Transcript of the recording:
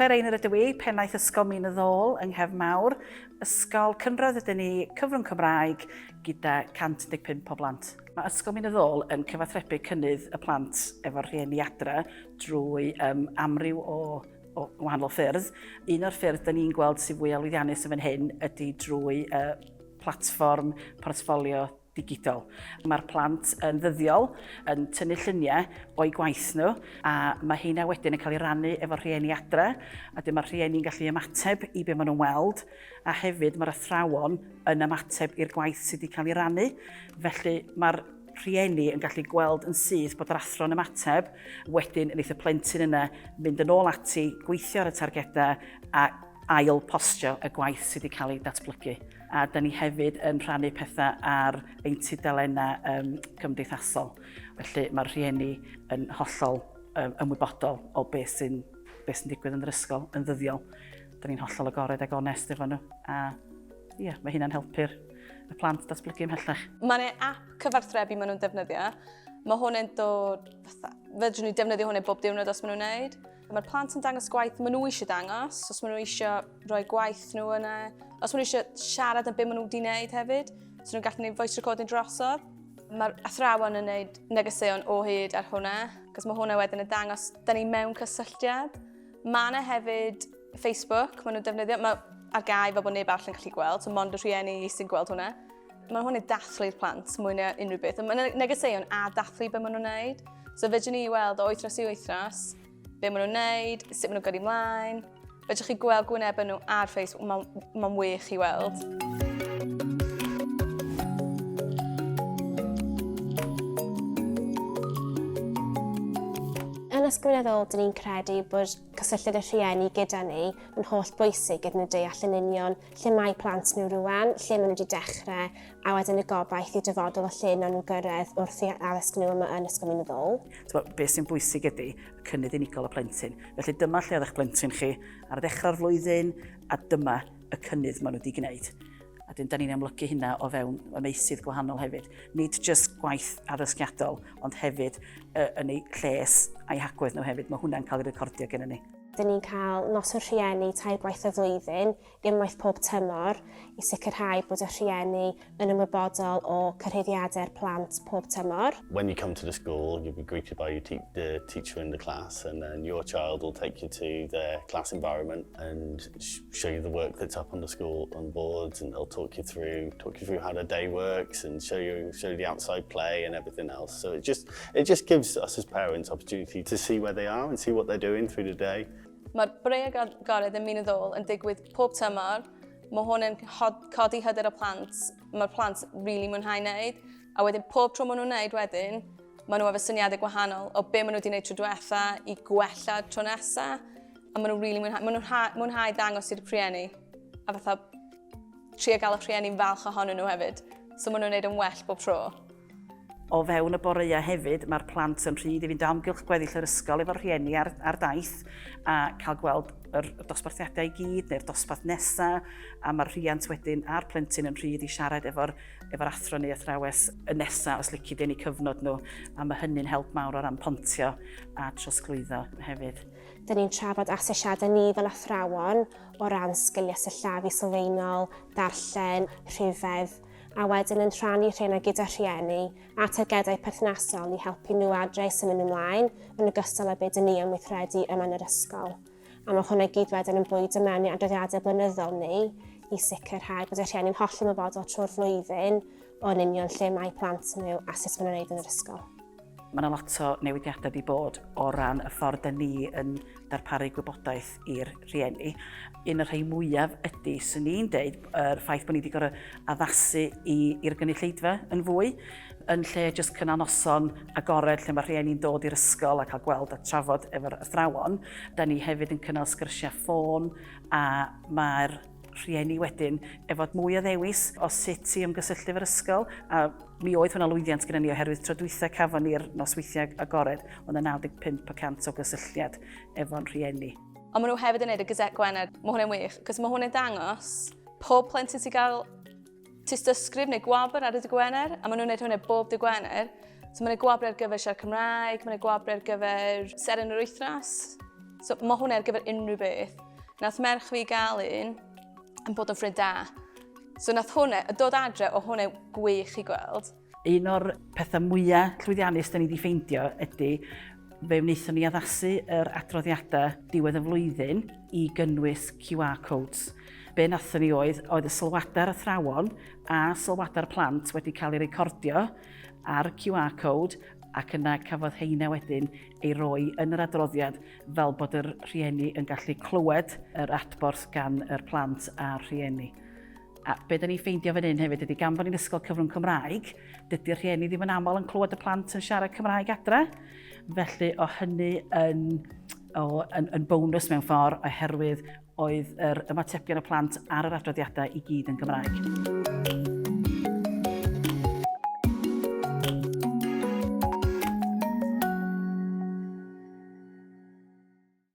Claire Einor ydw i, pennaeth Ysgol Min y Ddôl yng Nghef Mawr. Ysgol cynradd ydyn ni, cyfrwng Cymraeg gyda 115 o blant. Mae Ysgol Min y Ddôl yn cyfathrebu cynnydd y plant efo'r rhieni adre drwy um, amryw o o wahanol ffyrdd. Un o'r ffyrdd da ni'n gweld sy'n fwy alwyddiannus yn fan hyn ydy drwy uh, platfform portfolio digidol. Mae'r plant yn ddyddiol yn tynnu lluniau o'i gwaith nhw a mae heina wedyn yn cael ei rannu efo'r rhieni adre a dyma mae'r rhieni'n gallu ymateb i be maen nhw'n weld a hefyd mae'r athrawon yn ymateb i'r gwaith sydd wedi cael ei rannu. Felly mae'r rhieni yn gallu gweld yn syth bod yr athro'n ymateb, wedyn wneith y plentyn yna fynd yn ôl ati, gweithio ar y targedau a ail postio y gwaith sydd wedi cael ei datblygu. A da ni hefyd yn rhannu pethau ar ein tudalennau um, cymdeithasol. Felly mae'r rhieni yn hollol um, ymwybodol o beth sy'n be sy digwydd yn yr ysgol yn ddyddiol. Da ni'n hollol agored ag onest efo nhw. A Ie, mae hynna'n helpu'r y plant datblygu ymhellach. Mae'n e app cyfarthrebu maen nhw'n defnyddio. Mae hwn yn dod... Fedrwn ni defnyddio hwn yn bob diwrnod os maen nhw'n wneud. Mae'r plant yn dangos gwaith maen nhw eisiau dangos, os maen nhw eisiau rhoi gwaith nhw yna, os maen nhw eisiau siarad am beth maen nhw wedi wneud hefyd, so nhw'n gallu gwneud voice recording drosodd. Mae'r athrawon yn gwneud negeseuon o hyd ar hwnna, cos mae hwnna wedyn yn dangos, da ni mewn cysylltiad, Mae yna hefyd Facebook, maen nhw'n defnyddio, mae ar gael fel bod neb arall yn gallu gweld, so mond y rhieni sy'n gweld hwnna. Mae hwn yn dathlu i'r plant mwy na unrhyw beth. Mae yna negeseuon a dathlu beth maen nhw'n gwneud. So fedrwn ni weld o wythnos i wythnos be maen nhw'n gwneud, sut maen nhw'n gyrru mlaen. Fedrwch chi gweld gwyneb nhw ar Facebook, mae'n ma wych i weld. Yn ysgrifenyddol, dyn ni'n credu bod cysylltiad y rhieni gyda ni yn holl bwysig iddyn nhw deall yn union lle mae plant nhw rwan, lle maen nhw wedi dechrau, a wedyn y gobaith i'r dyfodol o lle nawn nhw gyrraedd wrth i addysg nhw yma yn Ysgol Minyddol. Tybed, beth sy'n bwysig ydy y cynnydd unigol y plentyn. Felly dyma lle oedd eich plentyn chi ar ddechrau'r flwyddyn, a dyma y cynnydd maen nhw wedi gwneud. A dyn, da ni'n amlygu hynna o fewn y meysydd gwahanol hefyd. Nid jyst gwaith addysgiadol, ond hefyd uh, yn eu lles a'i hagwedd nhw hefyd. Mae hwnna'n cael ei recordio gen ni. Dyn ni'n cael nos o'r rhieni tair gwaith y flwyddyn, unwaith pob tymor, i sicrhau bod y rhieni yn ymwybodol o cyrhaeddiadau'r plant pob tymor. When you come to the school, you'll be greeted by your te the teacher in the class and then your child will take you to their class environment and show you the work that's up on the school on boards and they'll talk you through talk you through how the day works and show you show you the outside play and everything else so it just it just gives us as parents opportunity to see where they are and see what they're doing through the day Mae'r breu agored yn muneddol yn digwydd pob tymor. Mae hwn yn codi hyder y plant. Mae'r plant rili really mwynhau wneud. A wedyn pob tro maen nhw'n wneud wedyn, maen nhw efo syniadau gwahanol o be maen nhw wedi gwneud tro diwetha i gwella tro nesaf. A maen nhw'n really mwynhau, maen nhw'n ha- mwynhau dangos i'r rhieni. A fatha, trio gael y rhieni'n falch ohonyn nhw hefyd. So maen nhw'n gwneud yn well bob tro. O fewn y boreau hefyd, mae'r plant yn rhyd i fynd o amgylch gweddill yr ysgol efo'r rhieni ar, ar daith a cael gweld yr dosbarthiadau i gyd neu'r dosbarth nesaf a mae'r rhiant wedyn a'r plentyn yn rhyd i siarad efo'r efo athro neu athrawes y nesaf os lici dyn ni cyfnod nhw a mae hynny'n help mawr o ran pontio a trosglwyddo hefyd. Dyn ni'n trafod asesiadau ni fel athrawon o ran sgiliau sillafu sylfaenol, darllen, rhifedd, a wedyn yn rhannu rheina gyda rhieni a targedau perthnasol i helpu nhw adre i symud nhw mlaen yn ogystal â be dyn ni am weithredu yma yn yr ysgol. A mae hwnna gyd wedyn yn bwydo mewn i adroddiadau blynyddol ni i sicrhau bod y rhieni'n hollol ymwybodol trwy'r flwyddyn o'n union lle mae plant nhw a sut maen nhw'n wneud yn yr ysgol. Mae yna lot o newidiadau wedi bod o ran y ffordd da ni yn darparu gwybodaeth i'r rhieni. Un o'r rhai mwyaf ydy, sy'n ni'n deud, yr ffaith bod ni wedi gorau addasu i'r gynulleidfa yn fwy, yn lle jyst cynnal noson agored lle mae rhieni'n dod i'r ysgol a cael gweld a trafod efo'r athrawon. Da ni hefyd yn cynnal sgyrsiau ffôn a mae'r rhieni wedyn e fod mwy o ddewis o sut i ymgysylltu efo'r ysgol a mi oedd hwnna lwyddiant gyda ni oherwydd tro dwytha cafon ni'r nosweithiau agored oedd yna 95 y cant o gysylltiad efo'n rhieni. Ond maen nhw hefyd yn neud y Gazette Gwener. Mae hwnna'n wych, cos mae hwnna'n dangos pob plentyn sy'n cael Tystysgrif neu gwabr ar y dy Gwener, a maen nhw'n gwneud hwnna bob dy Gwener. So mae'n gwabr ar gyfer siarad Cymraeg, mae'n gwabr ar gyfer seren yr wythnos. So mae hwnna ar gyfer unrhyw beth. Nath merch fi gael un yn bod yn ffrind da. So nath hwnna, y dod adre o hwnna gwych i gweld. Un o'r pethau mwyaf llwyddiannus da ni wedi ffeindio ydy fe wnaethon ni addasu yr adroddiadau diwedd y flwyddyn i gynnwys QR codes. Be wnaethon ni oedd, oedd y sylwadau'r athrawon a sylwadau'r plant wedi cael ei recordio ar QR code ac yna cafodd heina wedyn ei roi yn yr adroddiad fel bod yr rhieni yn gallu clywed yr adborth gan yr plant a'r rhieni. A be dan ni'n ffeindio fan hyn hefyd ydy gan bod ni'n ysgol cyfrwng Cymraeg, dydy'r rhieni ddim yn aml yn clywed y plant yn siarad Cymraeg adre. Felly o hynny yn, o, yn, yn bonus mewn ffordd oherwydd oedd yr ymatebion y plant ar yr adroddiadau i gyd yn Gymraeg.